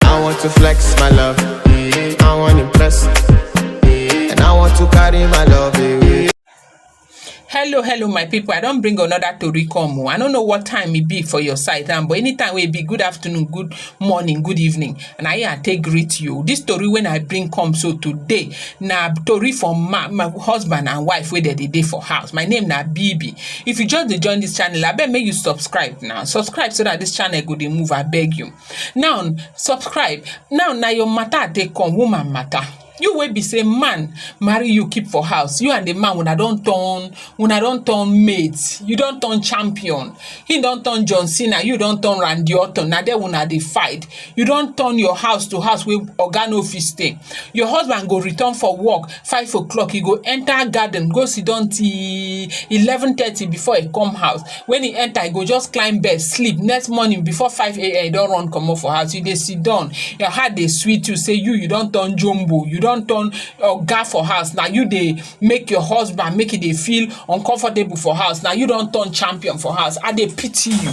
I want to flex my love. I want to impress. And I want to carry my love away. hello hello my people i don bring another tori come o oh. i no know what time e be for your side now but anytime wey e be good afternoon good morning good evening and i here i take greet you this tori wey i bring come so today na tori for my, my husband and wife wey dem dey dey for house my name na bibi if you just dey join this channel abeg make you subscribe now subscribe so that this channel go dey move abeg you Now subscribe, now na your matter I take come, woman matter. You wey be sey man marry you keep for house, you and the man una don turn una don turn mate, you don turn champion, him don turn John Cena, you don turn Randy Orton, na there una dey fight. You don turn your house to house wey oga no fit stay. Your husband go return for work, five o'clock e go enter garden go siddon till eleven thirty before e come house when e enter e go just climb bed sleep next morning before five a.m. e don run comot for house you dey siddon your heart dey sweet you say you you don turn jumbo you don turn oga for house na you dey make your husband make e dey feel uncomfortable for house na you don turn champion for house I dey pity you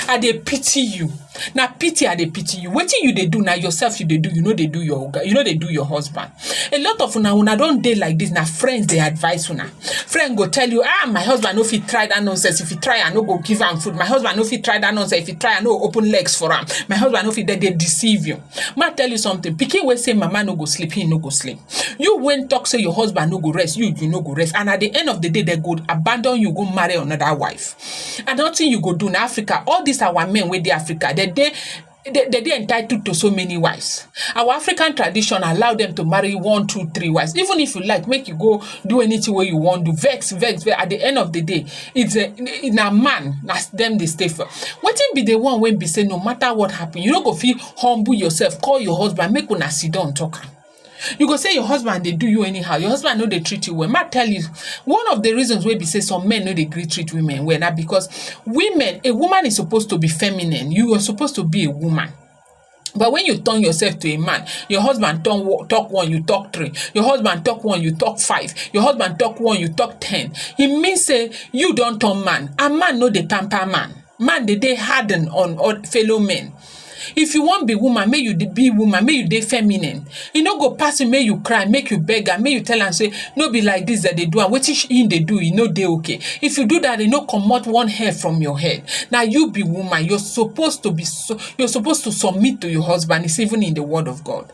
I dey pity you na pity I dey pity you wetin you dey do na yourself you dey do you no dey do your oga you no dey do your husband a lot of una una don dey like this na friends dey advise una friend go tell you ah my husband no fit try that nonsense if he try i no go give am food my husband no fit try that nonsense if he try i no go open legs for am my husband no fit dey dey deceive you ma tell you something pikin wey say mama no go sleep he no go sleep you wey talk say your husband no go rest you you no go rest and at the end of the day they go abandon you go marry another wife and nothing you go do na africa all these our men wey dey africa they dey they, they dey entitled to so many wives. Our African tradition allow them to marry one, two, three wives. Even if you like, make you go do anything where you want to vex, vex, vex. At the end of the day, it's a in a man that's them they stay for. What be the one when be say no matter what happen, you don't go feel humble yourself, call your husband, make una sit down talk. you go say your husband dey do you anyhow your husband no dey treat you well ma tell you one of the reasons wey be say some men no dey gree treat women well na because women a woman is supposed to be feminine you are supposed to be a woman but when you turn yourself to a man your husband turn wo- talk one you talk three your husband talk one you talk five your husband talk one you talk ten e mean say you don turn man and man no dey pamper man man dey dey harden on on fellow men if you wan be woman make you dey be woman make you dey feminine e no go pass you make you cry make you beg am make you tell am say no be like this dem dey do am wetin she him dey do e no dey okay if you do that e no comot one hair from your head na you be woman you're supposed to be so you're supposed to submit to your husband it's even in the word of God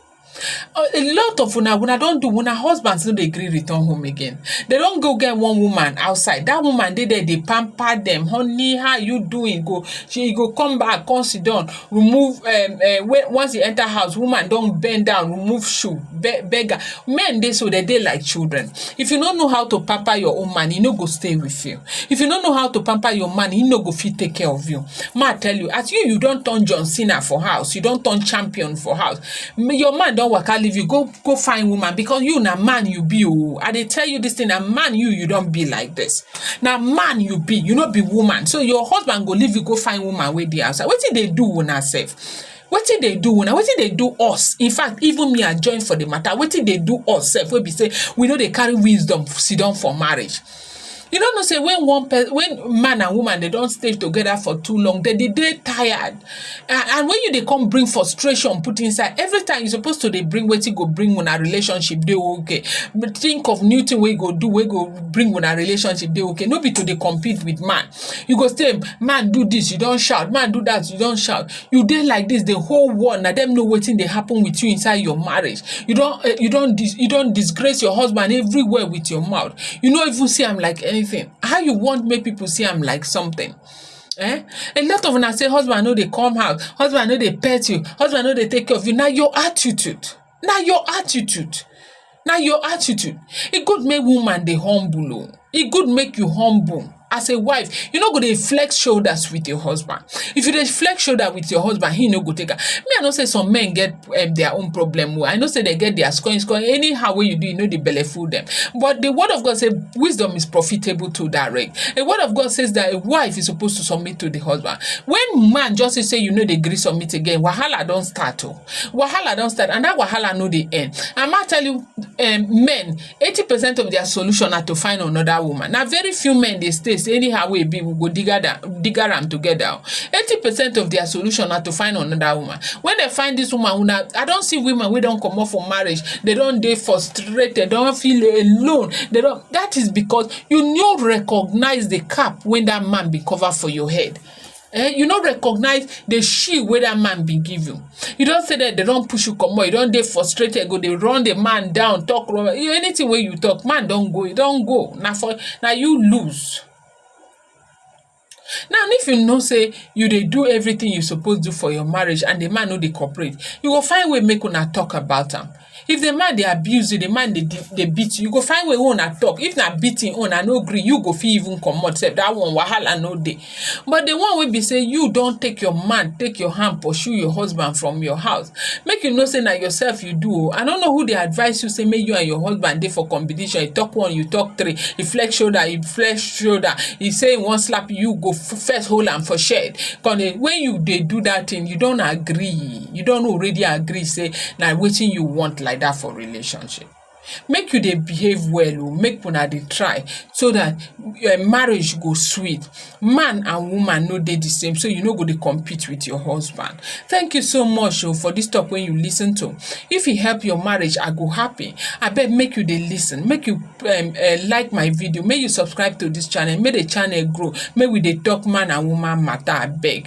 a lot of una una don do una husband no dey gree return home again dem don go get one woman outside that woman dey there dey pamper dem honey how you doing go she go come back come sit down remove um um when once he enter house woman don bend down remove shoe be beg am men dey so dem dey like children if you no know how to pamper your own man he no go stay with you if you no know how to pamper your man he no go fit take care of you ma tell you as you you don turn John Cena for house you don turn champion for house your man don waka leave you go go find woman because you na man you be oh i dey tell you this thing na man you you don be like this na man you be you no be woman so your husband go leave you go find woman wey dey outside wetin dey do una sef wetin dey do una wetin dey do us in fact even me i join for the matter wetin dey do us sef wey be say we no dey carry wisdom sit down for marriage You no know sey when one when man and woman dey don stay together for too long, dem dey dey tired and and when you dey come bring frustration put inside, every time you suppose to dey bring wetin go bring una relationship dey okay. Think of new thing wey you go do wey go bring una relationship dey okay, no be to dey compete with man. You go say man do dis, you don shout, man do dat, you don shout. you dey like dis the whole world na dem know wetin dey happen with you inside your marriage you don eh, you don dis you don disgrace your husband everywhere with your mouth you no even see am like anything how you want make people see am like something Eh? A lot of una say husband no dey come house, husband no dey pet you, husband no dey take care of you. Na your attitude. Na your attitude. na your attitude e good make woman dey humble oo e good make you humble as a wife you no go dey flex shoulders with your husband if you dey flex shoulder with your husband he no go take am me i know say some men get um, their own problem oo i know say they get their scoring scoring anyhow wey you do you no dey belle full them but the word of god say wisdom is profitable to direct the word of god says that a wife is supposed to submit to the husband when man just say say you no dey gree submit again wahala don start oo. Oh. wahala don start and that wahala no dey end and ma tell you um, men eighty percent of their solution na to find another woman na very few men dey stay say anyhow wey e be we go digger am digger am together eighty percent of their solution na to find another woman when they find this woman una i don see women wey don comot for marriage they don dey frustrated don feel alone they don that is because you no recognize the cap wey that man bin cover for your head eh you no recognize the shield wey that man bin give you you don say that they don push you comot you don dey frustrated go dey run the man down talk run anything wey you talk man don go you don go na for na you lose now if you know say you dey do everything you suppose do for your marriage and the man no dey cooperate you go find way make una talk about am If di man dey abuse you, di man dey dey beat you, you go find way wey una talk. If na beating own and no gree, you go fit even comot sef. Dat one wahala no dey. But di one wey be sey you don take your man, take your hand pursue your husband from your house, make you know sey na yourself you do oh. I no know who dey advice you sey make you and your husband dey for competition. E talk one, you talk three. E flex shoulder, you flex shoulder. E say e wan slap you, you go first hold am for shed. Con dey when you dey do dat thing, you don agree. you don already agree say na wetin you want like that for relationship make you dey behave well o oh, make una dey try so that your eh, marriage go sweet man and woman no dey the same so you no go dey compete with your husband thank you so much o oh, for this talk wey you lis ten to if e help your marriage i go happy abeg make you dey lis ten make you um, uh, like my video make you subscribe to this channel make the channel grow make we dey talk man and woman matter abeg